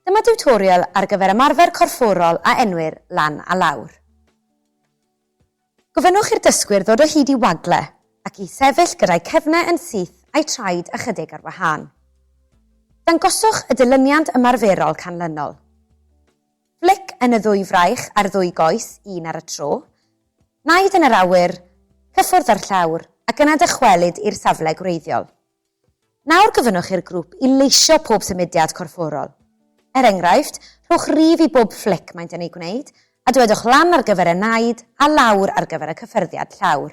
Dyma diwtorial ar gyfer ymarfer corfforol a enwir lan a lawr. Gofynnwch i'r dysgwyr ddod o hyd i wagle ac i sefyll gyda'u cefnau yn syth a'u traed ychydig ar wahân. Dangoswch y dilyniant ymarferol canlynol. Flic yn y ddwy fraich a'r ddwy goes, un ar y tro. Naid yn yr awyr, cyffwrdd â'r llawr, ac yna dychwelyd i'r safle gwreiddiol. Nawr gofynnwch i'r grŵp i leisio pob symudiad corfforol. Er enghraifft, rhowch rif i bob flic maent yn ei gwneud, a dywedwch lan ar gyfer y naid a lawr ar gyfer y cyffyrddiad llawr.